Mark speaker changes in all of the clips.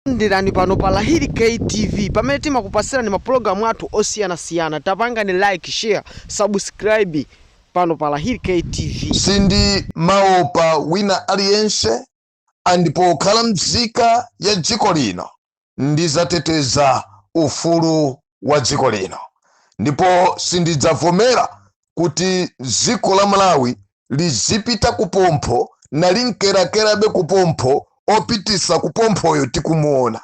Speaker 1: Talandirani pano pa Lahiri K TV pamene timakupasirani mapulogalamu athu osiyana siyana tapangani like share subscribe pano pa Lahiri K TV.
Speaker 2: Sindimaopa wina aliyense and pokhala mzika ya dziko lino ndizateteza ufulu wa dziko lino ndipo sindidzavomera kuti dziko la malawi lizipita kupompho nalimkerakerabe kupompho opitisa kupomphoyo tikumuona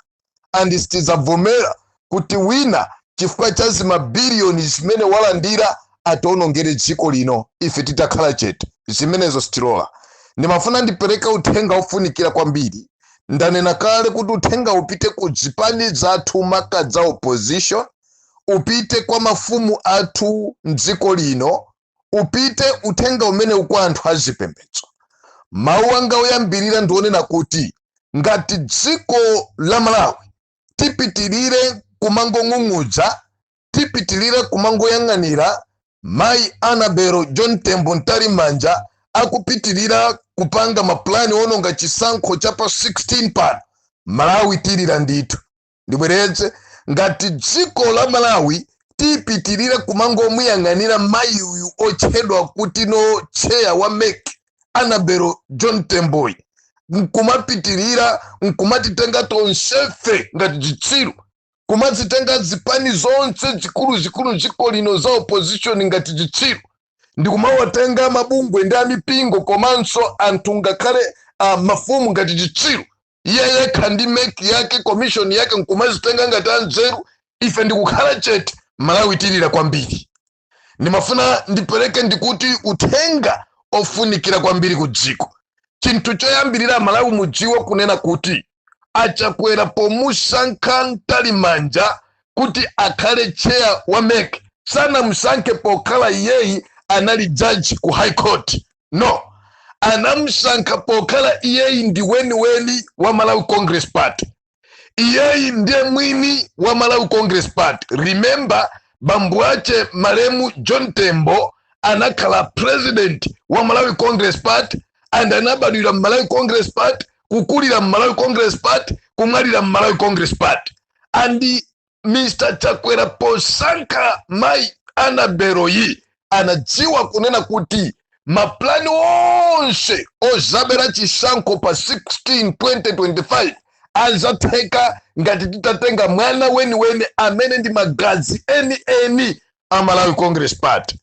Speaker 2: andi sitidzavomera kuti wina chifukwa cha zimabiliyoni zimene walandira atiwonongere dziko lino ife titakhala chete. Zimenezo sitilola. Ndimafuna ndipereke uthenga wofunikira kwambiri. Ndanena kale kuti uthengawu upite ku zipani zathu maka za opposition, upite kwa mafumu athu m'dziko lino, upite uthenga umenewu kwa anthu a zipembedzo. Mawu anga oyambirira ndi onena kuti ngati dziko la Malawi tipitirire kumangong'ung'udza, tipitirire kumangoyang'anira mayi annabel john tembo mtalimanja akupitirira kupanga mapulani ononga chisankho cha pa 16 pano malawi tilira ndithu ndibwereze ngati dziko la malawi tipitirira kumangomuyang'anira mayi uyu otchedwa kuti no chair wa mec annabel john temboyi nkumapitirira nkumatitenga tonsefe ngati chitsiru kumazitenga zipani zonse zikuluzikulu mdziko lino za opposition ngati chitsiru ndikumawatenga mabungwe ndi amipingo komanso anthu ngakhale uh, mafumu ngati chitsiru iye yekha ndi mec yake commission yake nkumazitenga ngati anzeru ife ndikukhala chete malawi tilira kwambiri ndimafuna ndipereke ndikuti uthenga ofunikira kwambiri ku dziko chinthu choyambirira amalawi mudziwe kunena kuti achakwera pomusankha mtalimanja kuti akhale chair wa mec sanamusankhe pokhala iyeyi anali judge ku high court no anamusankha pokhala iyeyi ndi weniweni wa malawi congress party iyeyi ndiye mwini wa malawi congress party remember bambo ache malemu john tembo anakhala president wa malawi congress party and anabadwira mmalawi congress party kukulira mmalawi congress party kumwalira mmalawi congress party and mr chakwera posankha mai annabel yi anadziwa kunena kuti mapulani onse ozabera chisankho pa 16 2025 azatheka ngati titatenga mwana weniweni amene ndi magazi enieni a malawi congress party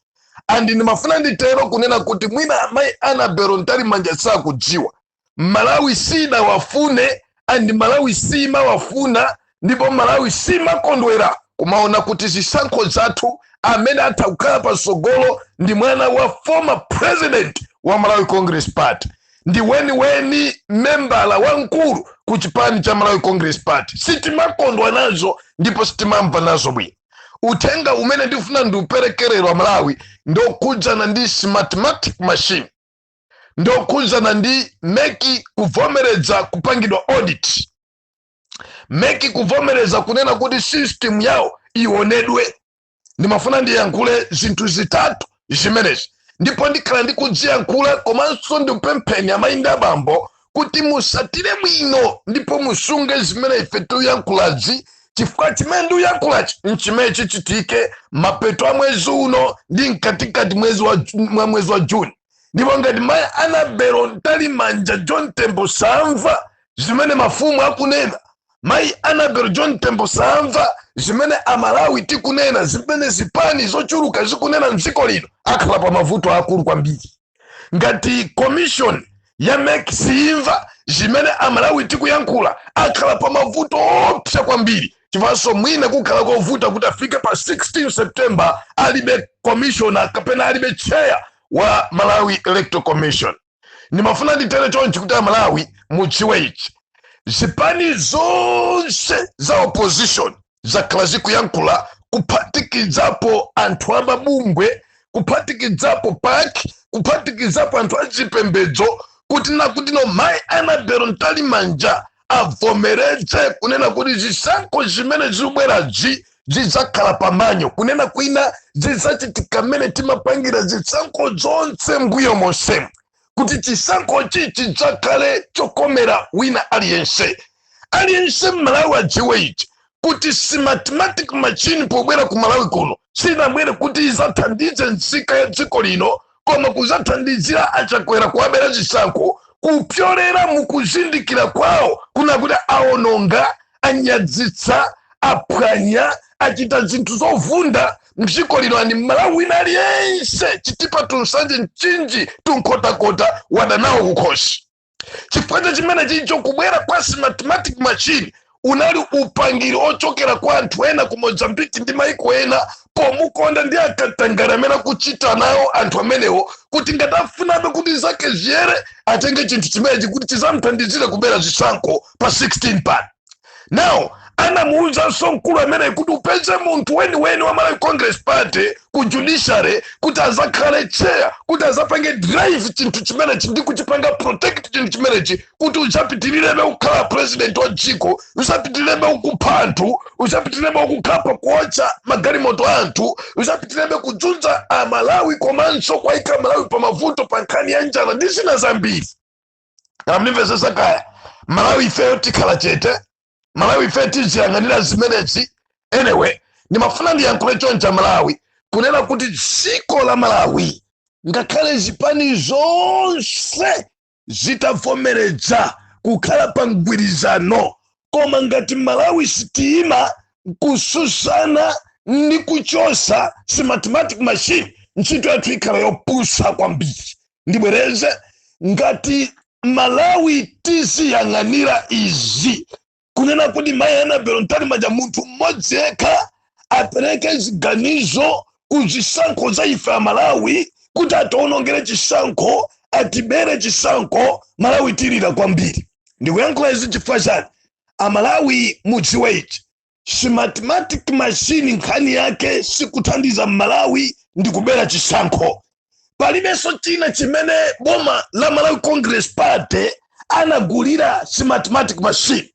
Speaker 2: and ndimafuna nditero kunena kuti mwina amayi annabel mtalimanja sakudziwa malawi sinawafune andi malawi simawafuna ndipo malawi simakondwera kumaona kuti zisankho zathu amene atakhale patsogolo ndi mwana wa former president wa malawi congress party ndi weniweni membala wamkulu ku chipani cha malawi congress party sitimakondwa nazo ndipo sitimamva nazo bwino uthenga umene ndifuna ndiupereke lero amalawi ndokhudzana ndi smartmatic machine ndi okhudzana ndi mek kuvomereza kupangidwa audit mek kuvomereza kunena kuti system yawo ionedwe ndimafuna ndiyankhule zinthu zitatu zimenezi ndipo ndikhala ndikudziyankhula komanso ndikupempheni amayi ndi abambo kuti musatire bwino ndipo musunge zimene ife tiyankhulazi chifukwa chimene ndikuyankhulachi nchimene chichitike mapeto a mwezi uno ndi mkatikati mwa mwezi wa Ju- mwa mwezi wa juni ndipo ngati mayi anabelo mtalimanja john tembo samva zimene mafumu akunena mayi anabelo john tembo samva zimene amalawi tikunena zimene zipani zochuluka zikunena mdziko lino akhala pa mavuto akulu kwambiri ngati commission ya mek siimva zimene amalawi tikuyankhula akhala pa mavuto oopsa kwambiri chifanso mwina kukhala kovuta kuti afike pa 16 september alibe commissioner kapena alibe chair wa malawi electoral commission ndimafuna nditere chonchi kuti amalawi mudziwe ichi zipani zonse za opposition zakhala zikuyankhula kuphatikizapo anthu amabungwe kuphatikizapo pac kuphatikizapo anthu achipembedzo kutinakuti no mai anabelo mtalimanja avomereze kunena kuti zisankho zimene zikubwerazi zidzakhala pa manual kunena kwina zidzachitika mmene timapangira zisankho zonse mbuyo monsemu kuti chisankhochi chidzakhale chokomera wina aliyense aliyense mmalawi adziwe ichi kuti smartmatic machine pobwera ku malawi kuno sinabwere kuti izathandize nzika ya dziko lino koma kuzathandizira a chakwera kuwabera zisankho kupyolera mukuzindikira kwawo kuna kuti aononga anyadzitsa aphwanya achita zinthu zovunda mdziko lino and mmalawi wina aliyense chitipa to nsanje mchinji to nkhotakota wadanawo kukhosi chifukwa cha chimenechicho kubwera kwa smartmatic machine unali upangiri ochokera kwa anthu ena ku mozambique ndi maiko ena pomukonda ndi akatangale amene akuchita nawo anthu amenewo kuti ngati afunabe kuti zake ziyere atenge chinthu chimenechi kuti chizamthandizire kubera zisankho pa 16 pano now anamuwuzanso mkulu ameneyi kuti upeze munthu weniweni wa malawi congress party ku judiciary kuti azakhale chair kuti azapange drive chinthu chimenechi ndi kuchipanga protect chinthu chimenechi kuti uzapitilirebe kukhala president wa dziko uzapitilirebe ukupha anthu uzapitilirebe ukukhapa kuwotcha magalimoto a anthu uzapitilirebe kudzunza amalawi komanso kuwaika amalawi pa mavuto pa nkhani ya njala ndi zina zambiri amandimvesesa kaya amalawi ifeyo tikhala chete amalawi ifeyo tiziyang'anira zimenezi anyway ndimafuna ndiyankhule choncha amalawi kunena kuti dziko la malawi ngakhale zipani zonse zitavomereza kukhala pa mgwirizano koma ngati amalawi sitiima kususana ndi kuchosa smartmatic machine ntchito yathu ikhala yopusa kwambiri ndibwereze ngati amalawi tiziyang'anira izi kunena kuti mayi annabel mtalimanja munthu mmodzi yekha apereke ziganizo ku zisankho za ife amalawi kuti atiwonongere chisankho atibere chisankho amalawi tilira kwambiri ndikuyankhula izi chifukwa chani amalawi mudziwe ichi smartmatic machine nkhani yake sikuthandiza mmalawi ndi kubera chisankho palibenso china chimene boma la malawi congress party anagulira smartmatic machine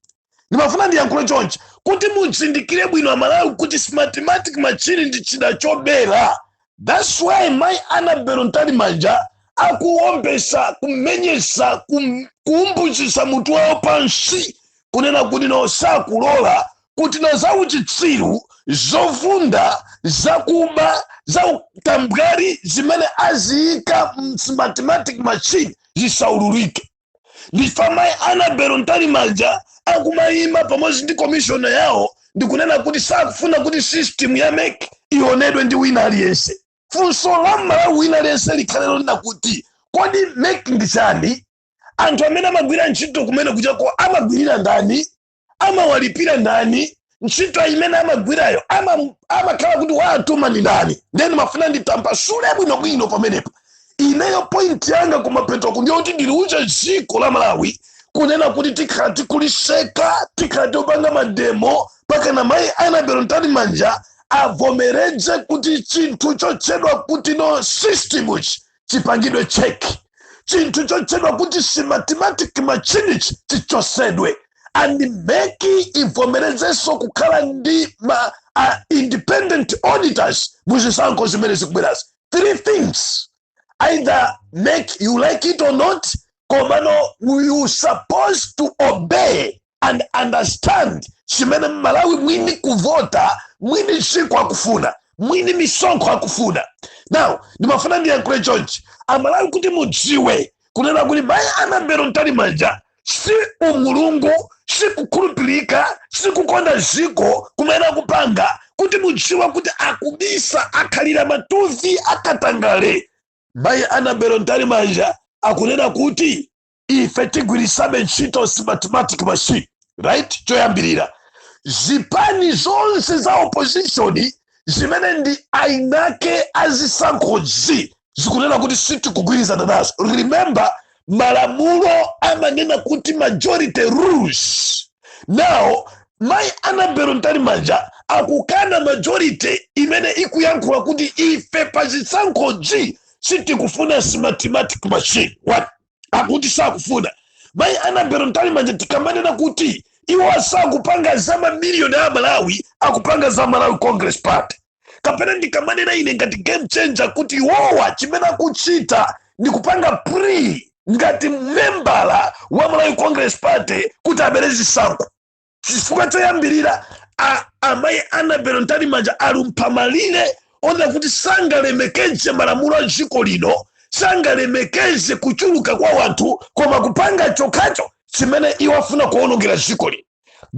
Speaker 2: ndimafuna ndiyankhule chonchi kuti muzindikire bwino amalawi kuti smartmatic machine ndi chida chobera That's why mai Annabel Mtalimanja akuombesa kumenyesa kum, kuumbuzisa mutu wawo pansi kunena kuti no sakulola kuti no za uchitsiru zovunda zakuba za utambwali zimene aziyika mu smartmatic machine zisaululike nchifukwa mayi annabel mtalimanja akumayima pamodzi ndi komishona yawo ndikunena kuti sakufuna kuti system ya mek ionedwe ndi wina aliyense funso la mmalawi wina aliyense likhale lonena kuti kodi mek ndi chani anthu amene amagwira ntchito kumeneku chabe amagwirira ndani amawalipira ndani ntchito imene amagwirayo ama- amakhala kuti waatuma ndi ndani then ndimafuna nditambasule bwinobwino pamenepo ineyo point yanga kumapeto kwake ndiyoti ndiliuza dziko la malawi kunena kuti tikhala tikulitseka tikhala topanga mademo pakana mayi annabel mtalimanja avomereze kuti chinthu chotchedwa kuti no system ichi chipangidwe check chinthu chotchedwa kuti smartmatic machine ichi chichosedwe and mec ivomerezenso kukhala ndi ma uh, independent auditors mu zisankho zimene zikubwerazi three things either mec you like it or not komano you supposed to obey and understand chimene mmalawi mwini kuvota mwini dziko akufuna mwini misonkho akufuna now ndimafuna ndiyankhule chonchi amalawi kuti mudziwe kunena kuti mayi annabel mtalimanja si umulungu si kukhulupirika si kukonda dziko kumene akupanga kuti mudziwe kuti akubisa akhalira matuvi akatangale mayi annabel mtalimanja akunena kuti ife tigwiritsabe ntchito smartmatic machine right choyambirira zipani zonse za opposition zimene ndi ainake azisankhozi zikunena kuti sitikugwirizana nazo remember malamulo amanena kuti majority rules now mayi annabel mtalimanja akukana majority imene ikuyankhula kuti ife pa zisankhozi sitikufuna smartmatic machine What? akuti sakufuna mayi annabel mtalimanja tikamanena kuti iwo asakupanga za mamiliyoni a malawi akupanga za malawi congress party kapena ndikamanena ine ngati game changer kuti iwowa chimene akuchita ndi kupanga play ngati membala wa malawi congress party kuti abere zisankho chifukwa choyambirira a- amayi annabel mtalimanja alumpha malire onena kuti sangalemekeze malamulo a dziko lino sangalemekeze kuchuluka kwa wanthu koma kupanga chokhacho chimene iwo afuna kuwonongera dziko lino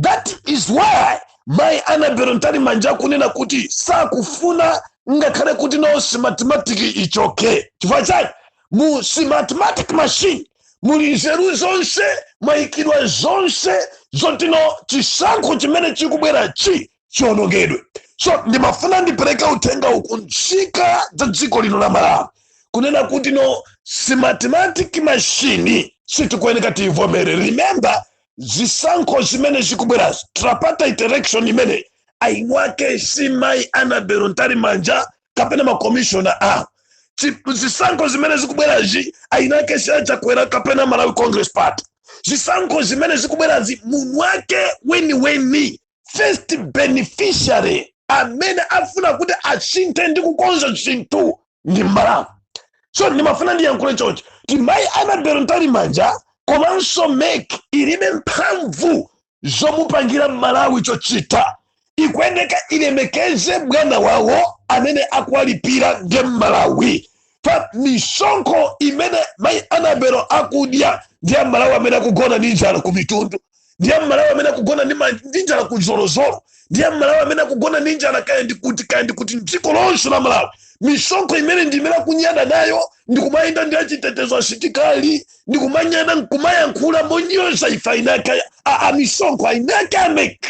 Speaker 2: that is why mayi annabel mtalimanja akunena kuti sakufuna ngakhale kuti no smartmatic ichoke chifukwa chani mu smartmatic machine muli nzeru zonse mwayikidwa zonse zotino chisankho chimene chikubwera chi chionongedwe so ndimafuna ndipereka uthengawu ku nzika za dziko lino la malawi kunena kuti no smartmatic machine sitikuyeneka tiyivomere remember zisankho zimene zikubwerazi tripartite election imene ainwake si mayi annabel mtalimanja kapena makomishona a chi- zisankho zimene zikubwerazi ainake si a chakwera kapena malawi congress party zisankho zimene zikubwerazi munthu wake weniweni first beneficiary amene afuna kuti asinthe ndi kukonza zinthu ndi mmalawi so ndimafuna ndiyankhule chonchi kuti mayi annabel mtalimanja komanso mec ilibe mphamvu zomupangira mmalawi chochita ikuyeneka ilemekeze bwana wawo amene akuwalipira nde mmalawi pa misonkho imene mayi annabel akudya ndi ya mmalawi amene akugona ndi njala ku mitundu ndi ya mmalawi amene akugona ndi ma- ndi njala ku zolozolo ndiye mmalawi amene akugona ndi njala kaya ndikuti kaya ndikuti mdziko lonse la malawi misonkho imene ndi imene akunyada nayo ndikumayenda ndi achitetezo asitikali ndikumanyada nkumayankhula monyoza ife ainake amisonkho ainake amek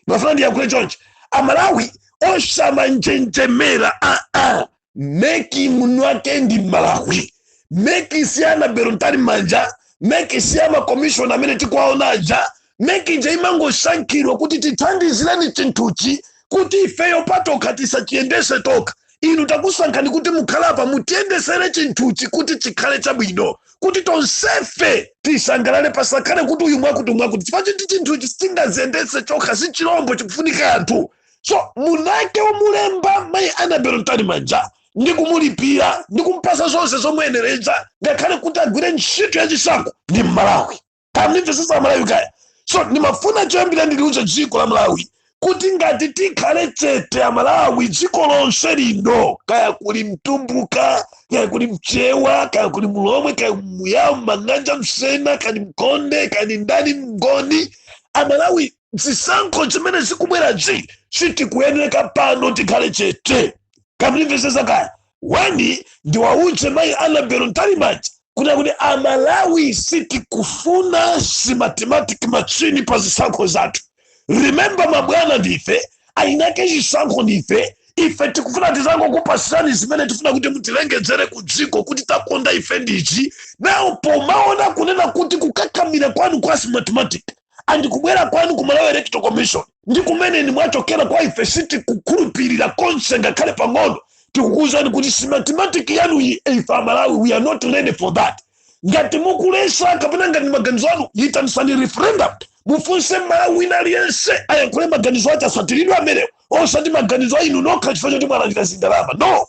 Speaker 2: nafuna ndiyankhule chonchi amalawi osamanjenjemera aa meki mwini wake ndi mmalawi meki si anabelo mtalimanja meki si makomishona amene tikuwaona aja meki ija imangosankhidwa kuti tithandizireni chinthuchi kuti ifeyo patokha tisachiyendese tokha inu takusankhani kuti mukhale apa mutiyendesere chinthuchi kuti chikhale chabwino kuti tonsefe tisangalale pasakhale kuti uyu mwakuti mwakuti chifukwa chiti chinthuchi sichingaziyendese chokha si chilombo chikufunika anthu so mwinake womulemba mayi anabelo mtalimanja ndi kumulipira ndi kumpasa zonse zomuyenereza ngakhale kuti agwire ntchito yachisankho ndi mmalawi kamnimvesesa amalawi kaya so ndimafuna choyambira ndiliuze dziko la malawi kuti ngati tikhale chete amalawi dziko lonse lino kaya kuli mtumbuka kaya kuli mchewa kaya kuli mulomwe kaya muyawo manganja msena kaya mkonde kaya ndani mgoni amalawi zisankho zimene zikubwerazi sitikuyeneka pano tikhale chete kamnimvesesa kaya wani ndiwauze mayi anabelo mtalimanja kunena kuti amalawi sitikufuna simatimatiki machini pa zisankho zathu remember mabwana ndife ainake chisankho ndife ife tikufuna tizangokupasani zimene tifuna kuti mutilengezere ku dziko kuti takonda ife ndichi now pomaona kunena kuti kukakamira kwanu kwa simatimatiki and kubwera kwanu ku malawi electoral commission ndi kumene ni mwachokera kwa ife sitikukhulupirira konse ngakhale pang'ono tikukuuzani kuti simatimatiki yanu iyi ife amalawi we are not ready for that ngati mukulesa kapena ngati maganizo anu yitanisani referendum mufunse mmalawi wina aliyense ayankhule maganizo ace asatiridwe amenewo osati maganizo a inu nokha chifukwa choti mwalandira zindalama no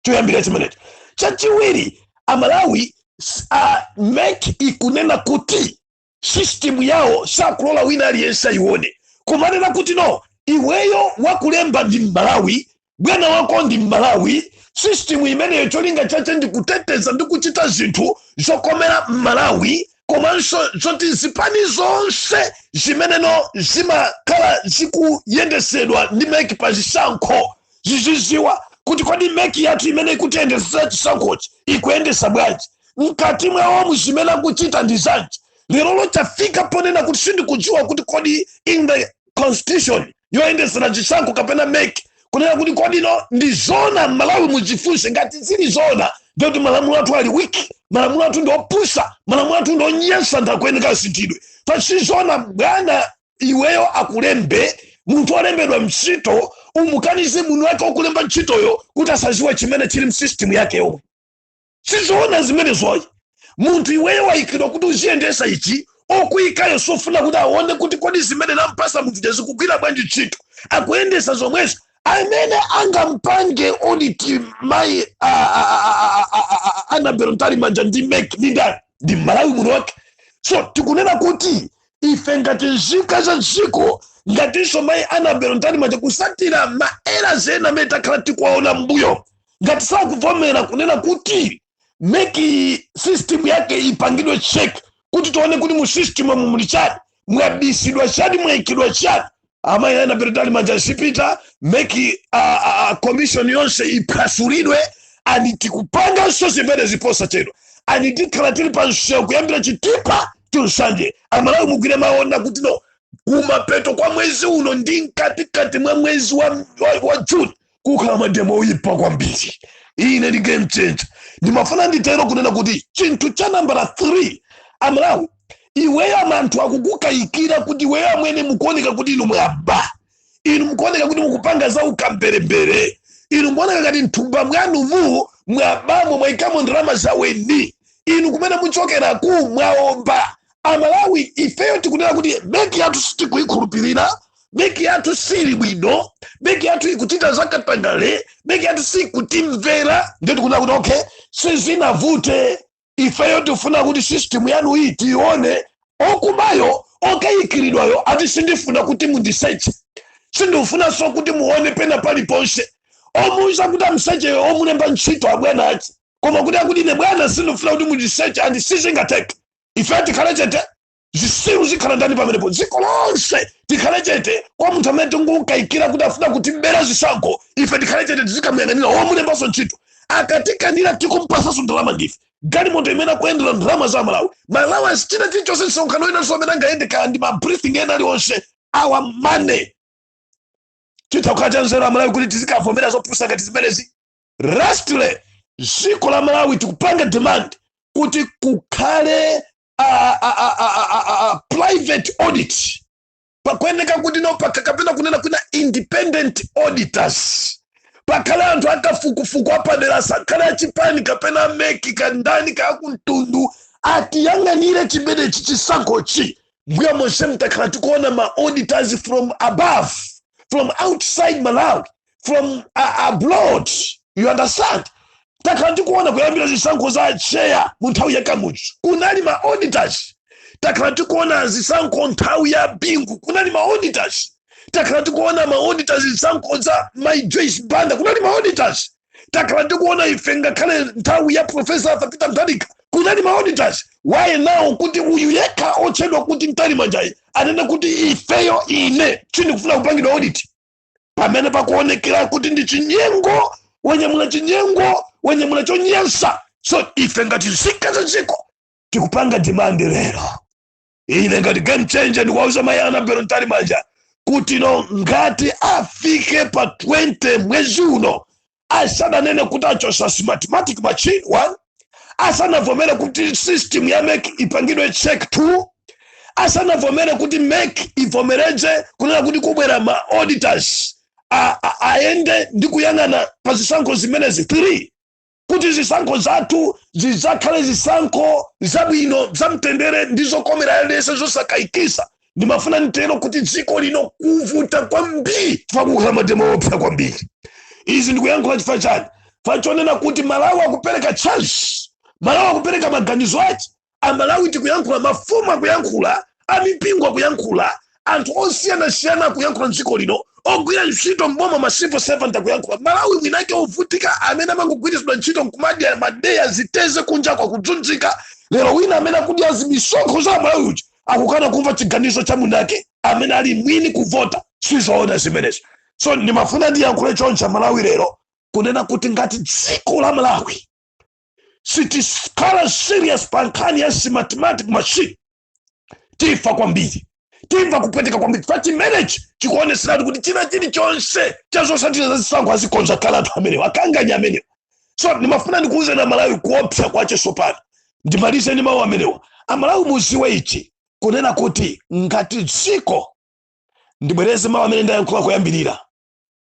Speaker 2: choyambira chimenecho chachiwiri amalawi s- ah, mek ikunena kuti system yawo sakulola wina aliyense ayione kumanena kuti no iweyo wakulemba ndi mmalawi bwana wako ndi mmalawi system imeneyo cholinga chache ndi kuteteza ndi kuchita zinthu zokomera mmalawi komanso zoti zipani zonse zimeneno zimakhala zikuyendesedwa ndi meki pa zisankho ziziziwa kuti kodi meki yathu imene ikutiyendesera chisankhochi ikuyendesa bwanji mkati mwawomu zimene akuchita ndi zanji lero chafika ponena kuti sindikudziwa kuti kodi in the constitution yoyendetsera chisankho kapena mec kunena kuti kodi ndi zona malawi mujifunse ngati zili zona ndikuti malamulo athu ali wiki malamulo athu ndi opusa malamulo athu ndi onyansa ndakuyeneka asinthidwe pasizona bwana iweyo akulembe munthu olembedwa ntchito umukanize munthu wake okulemba ntchitoyo kuti asaziwe chimene chili msisitimu yake yomwe sizoona zimenezo ayi munthu iweyo wayikidwa kuti uziyendesa ichi okuyikayo sofuna kuti aone kuti kodi zimene nampasa munthu uja zikugwira bwanji ntchito akuyendesa zomwezo amene angampange oditi mayi anabelo mtalimanja ndi mek ndi ndani ndi malawi muno wake so tikunena kuti ife ngati nzika za dziko ngatinso mayi anabelo mtalimanja kusatira ma error ena amene takhala tikuwaona mbuyo ngati sakuvomera kunena kuti mec system yake ipangidwe check kuti tione kuti mu system amu muli chani mwabisidwa chani mwaikidwa chani amayi anabelo mtalimanja azipita mec a, a, a commission yonse iphwasulidwe and tikupanganso zimenezi posachedwa and tikhala tili pa msewu kuyambira chitipa to nsanje amalawi mugwire mawu anga tinu kumapeto kwa mwezi uno ndi mkatikati mwa mwezi wa, wa, wa juni kukhala mademo oyipa kwambiri ine ndi game changer ndimafuna nditero kunena kuti chinthu cha nambala 3 amalawi iweyo anthu akukukayikira kuti iweyo amwene mukuoneka kuti inu mwaba inu mukuoneka kuti mukupanga za ukamberembere inu mukuoneka ngati mthumba mwanumu mwabamo mwaikamo ndalama zaweni inu kumene mukuchokeraku mwaomba amalawi ifeyo tikunena kuti mec yathu sitikuyikhulupirira mec yathu sili bwino mec yathu ikuchita zakatangale mec yathu sikutimvera ndiye tikunena kuti okay sizinavute ifeyo tifuna kuti system yanu iyi tiyione okubayo okayikiridwayo ati sindifuna kuti mundiseche sindifunanso kuti muone pena paliponse omuuza kuti amsecheyo omulemba ntchito abwana ache koma kuti akuti ine bwana sindifuna kuti mundiseche and sizingatheke ife tikhale chete zisiru zikhala ndani pamenepo dziko lonse tikhale chete kwa munthu amene tikumkayikira kuti afuna kutibera zisankho ife tikhale chete tizikamuyang'anira womulembanso ntchito akutikanira tikumpasanso ndalama ndife galimoto imene akuyendera ndalama za malawi malawi asachita chilichonse msonkhano winanso amene angayende kaya ndi mabriefing ena aliwonse our money chitha kukhala cha nzeru amalawi kuti tizikavomera zopusa ngati zimenezi lastly dziko la malawi tikupanga demand kuti kukhale a, a, a, a, a, a, a private audit pakuyeneka kuti no paka- kapena kunena kuna independent auditors pakhale anthu akafukufuku apadera asakhale achipani kapena a mec kandani kakumtundu atiyang'anire chimenechi chisankhochi mbuya monse mtakhala tikuona ma auditors from above from outside malawi from uh, abroad you understand takhala tikuona kuyambira zisankho za acheya mu nthawi ya kamuzu kunali ma auditors takhala tikuona zisankho nthawi ya bingu kunali ma auditors takhala tikuona ma auditors zisankho za mayi joyce banda kunali ma auditors takhala tikuona ife ngakhale nthawi ya profesa arthur peter mutharika kunali ma auditors why now kuti uyu yekha otchedwa kuti mtalimanjayi anena kuti ifeyo ine sindikufuna kupangidwa audit pamene pakuonekera kuti ndi chinyengo wanyamula chinyengo wanyamula chonyansa so ife ngati nzika za dziko tikupanga demand lero ine ngati game changer ndikuwauza mayi anabel mtalimanja kuti no ngati afike pa 20 mwezi uno asananene kuti achotsa smartmatic machine one asanavomere kuti system ya mec ipangidwe check two asanavomere kuti mec ivomereze kunena kuti kubwera ma auditors a- a- ayende ndi kuyang'ana pa zisankho zimenezi three kuti zisankho zathu zidzakhale zisankho zabwino zamtendere ndi zokomera aliyense zosakayikisa ndimafuna nditero kuti dziko lino kuvuta kwambiri chifukwa kukhala mademo oopsa kwambiri izi ndikuyankhula chifukwa chani fachonena kuti malawi akupereka chance malawi akupereka maganizo ake amalawi tikuyankhula mafumu akuyankhula amipingo akuyankhula anthu osiyanasiyana akuyankhula mdziko lino ogwira ntchito mboma ma civil servant akuyankhula malawi mwinake ovutika amene amangogwiritsidwa ntchito nkumadya madeya ziteteze kunja kwa kudzunzika lero wina amene akudya zimisonkho za malawi uja akukana kumva chiganizo cha munake amene ali mwini kuvota sizoona zimenezo so ndimafuna ndiyankhule choncha malawi lero kunena kuti ngati dziko la malawi sitikhala serious pa nkhani ya smartmatic machine tifa kwambiri timva kupweteka kwambiri pa chimenechi chikuoneseratu kuti china chilichonse cha zosatira za zisankho azikonza kale anthu amenewo akanganya amenewo so ndimafuna ndikuwuzeni malawi kuopsa kwache sopano ndimalize ndi mawu amenewa amalawi mudziwe ichi kunena kuti ngati dziko ndibwereze mawu amene ndayankhula kuyambirira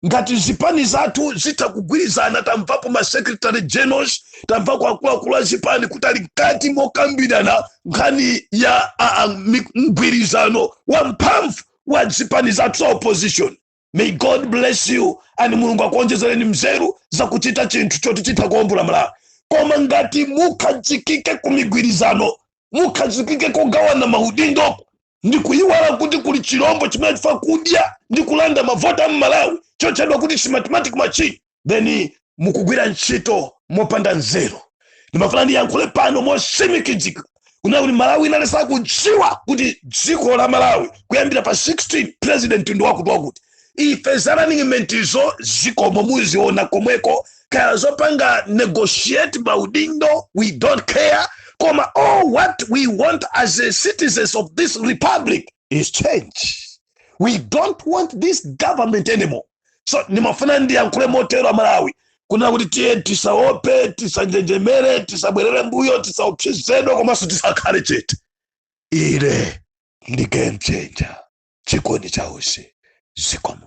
Speaker 2: ngati zipani zathu zitha kugwirizana tamvapo ma secretary generals tamvako akuluakulu a zipani kuti ali mkati mokambirana nkhani ya a- a- mi- mgwirizano wa mphamvu wa zipani zathu za opposition may god bless you and mulungu akuonjezereni mzeru za kuchita chinthu choti chitha kuwombola malawi koma ngati mukhazikike ku migwirizano mukhazikike kugawana maudindo ndi kuyiwala kuti kuli chirombo chimene chifuna kudya ndi kulanda mavoti a mmalawi chotchedwa kuti smartmatic machine then mukugwira ntchito mopanda nzeru ndimafuna ndiyankhule pano motsimikizika kunena kuti malawi ikuyenera kudziwa kuti dziko la malawi kuyambira pa 16 president ndi wakuti wakuti ife za runningmatezo zikomo muziona komweko kaya zopanga negotiate maudindo we don't care koma all what we want as a citizens of this republic is change we don't want this government anymore so ndimafuna ndiyankhule motero amalawi kunena kuti tiye tisaope tisanjenjemere tisabwerere mmbuyo tisaopsezedwe komanso tisakhale chete ine ndi game changer chikondi chausi zikomo